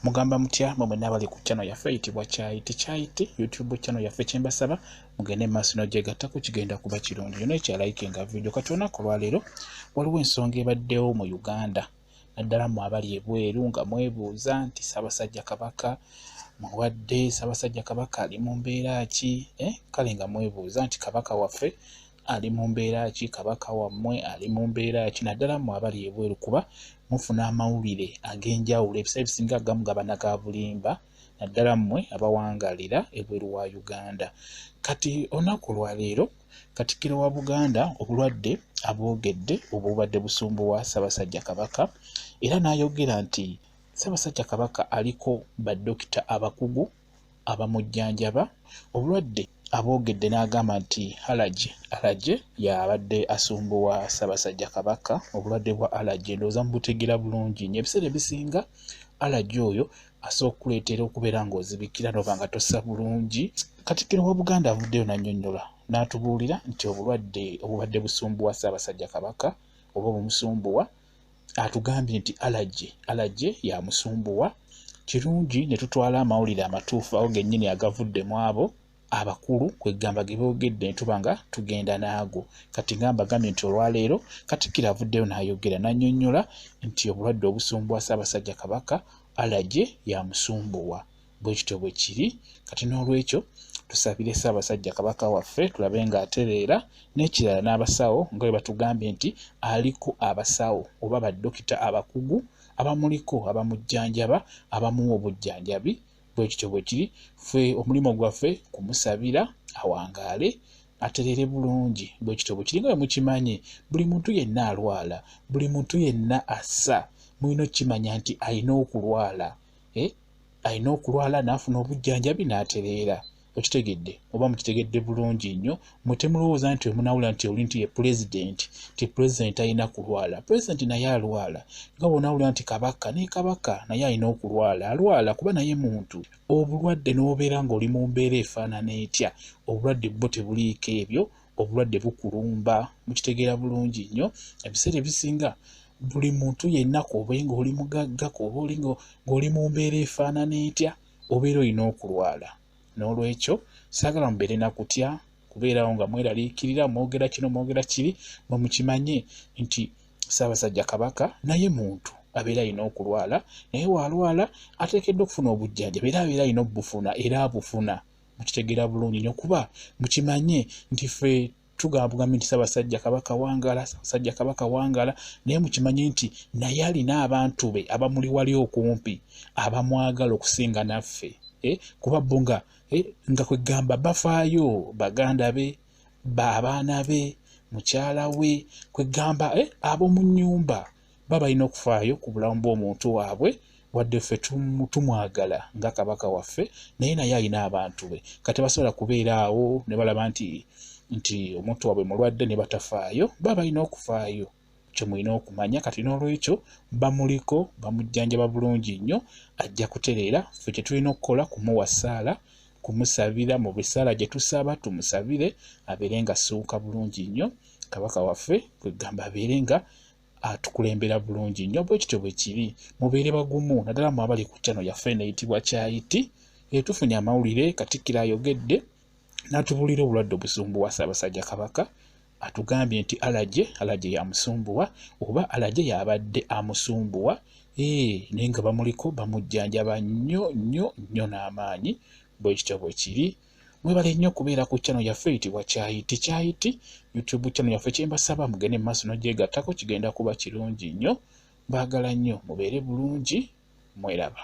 mugamba mutya mwe mwena abali ku channel yaffe eyitibwa kyayiti kyayiti youtube channel yaffe kyembasaba mugende maaso nogyegattako kigenda kuba kirungi yona ekyalaike nga vidio kati olunaku olwaleero waliwo ensonga ebaddewo mu uganda naddala mu abali ebweru nga mwebuuza nti sabasajja kabaka muwadde sabasajja kabaka ali mu mbeera ki eh? kale nga mwebuuza nti kabaka waffe ali mu mbeera ki kabaka wammwe ali mu mbeera ki naddala mu abali ebweru kuba mufuna amawulire ag'enjawulo ebisaa ebisinga agamugaba naga bulimba naddala mmwe abawangalira ebweru wa uganda kati olunaku lwaleero katikiro wa buganda obulwadde abwogedde obubadde busumbu wa ssabasajja kabaka era n'ayogera nti ssabasajja kabaka aliko badokita abakugu abamujjanjaba obulwadde aboogedde n'agamba nti alaje alaje y'abadde asumbuwa Ssaabasajja Kabaka obulwadde bwa alaje ndowooza mubutegeera bulungi nyo ebiseera ebisinga alaje oyo asobola okukuleetera okubeera ng'ozibikira n'oba nga tossa bulungi Katikkiro wa Buganda avuddeyo n'annyonnyola n'atubuulira nti obulwadde obubadde busumbuwa Ssaabasajja Kabaka oba obumusumbuwa atugambye nti alaje alaje yamusumbuwa kirungi ne tutwala amawulire amatuufu awo gennyini agavudde mu abo abakulu kwegamba ge boogedde ne tuba nga tugenda naago kati nga mbagambye nti olwaleero katikkiro avuddeyo n'ayogera n'annyonnyola nti obulwadde obusumbuwa ssaabasajja kabaka alaje yamusumbuwa bwe kityo bwe kiri kati n'olwekyo tusabire ssaabasajja kabaka waffe tulabe ng'atereera n'ekirala n'abasawo nga bwe batugambye nti aliko abasawo oba badokita abakugu abamuliko abamujjanjaba abamuwa obujjanjabi bwe kityo bwe kiri ffe omulimu gwaffe kumusabira awangaale atereere bulungi bwe kityo bwe kiri nga bwe mukimanyi buli muntu yenna alwala buli muntu yenna assa mulina okukimanya nti alina okulwala eh? alina okulwala n'afuna obujjanjabi n'atereera okitegedde oba mukitegedde bulungi nnyo mwe temulowooza nti wemunawula nti oli nti ye pulezidenti nti pulezidenti alina kulwala pulezidenti naye alwala nga bwonawula nti kabaka naye kabaka naye alina okulwala alwala kuba naye muntu obulwadde n'obeera ng'oli mu mbeera efaanana etya obulwadde bwo tebuliiko ebyo obulwadde bukulumba mukitegeera bulungi nnyo ebiseera ebisinga buli muntu yenna kuobe ngaoli mugagga kuoba oli ngaoli mu mbeera efaanana etya obeera olina okulwala n'olwekyo saagala mubeere na kutya kubeerawo nga mweraliikirira mwogera kino mwogera kiri mwe mukimanye nti ssaabasajja kabaka naye muntu abeera alina okulwala naye waalwala ateekeddwa okufuna obujjanjabi era abeera alina obufuna era abufuna mukitegera bulungi nyo kuba mukimanye nti fe tugambugambye nti sabasajja kabaka wangala sabasajja kabaka wangala naye mukimanye nti naye alina abantu be abamuli wali okumpi abamwagala okusinga naffe eh? kuba bo nga eh? nga kwegamba bafaayo baganda be baabaana be mukyala we kwegamba eh? ab'omu nyumba baba balina okufaayo ku bulamu bw'omuntu waabwe wadde ffe tumwagala nga kabaka waffe naye naye alina abantu be kati basobola kubeera awo ne balaba nti nti omuntu waabwe mulwadde ne batafaayo baba balina okufaayo kyemulina okumanya kati n'olwekyo bamuliko bamujjanjaba bulungi nnyo ajja kutereera ffe kyetulina okukola kumuwa ssaala kumusabira mu bisaala gye tusaba tumusabire abeere nga asuuka bulungi nnyo kabaka waffe kwegamba abeere nga atukulembera bulungi nnyo bwe kityo bwe kiri mubeere bagumu naddala mu abali ku kyano yaffe eneyitibwa kyayiti etufunye amawulire katikkiro ayogedde n'atubuulira obulwadde obusumbuwa ssaabasajja kabaka atugambye nti alaje alaje yamusumbuwa oba alaje yabadde amusumbuwa ee naye nga bamuliko bamujjanjaba nnyo nnyo nnyo n'amaanyi bwe kityo bwe kiri Mwebale nnyo kubeera ku channel yaffe eyitibwa Kyayiti Kyayiti YouTube channel yaffe kyembasaba mugende mu maaso n'ogyegattako kigenda kuba kirungi nnyo. Mbaagala nnyo mubeere bulungi mweraba.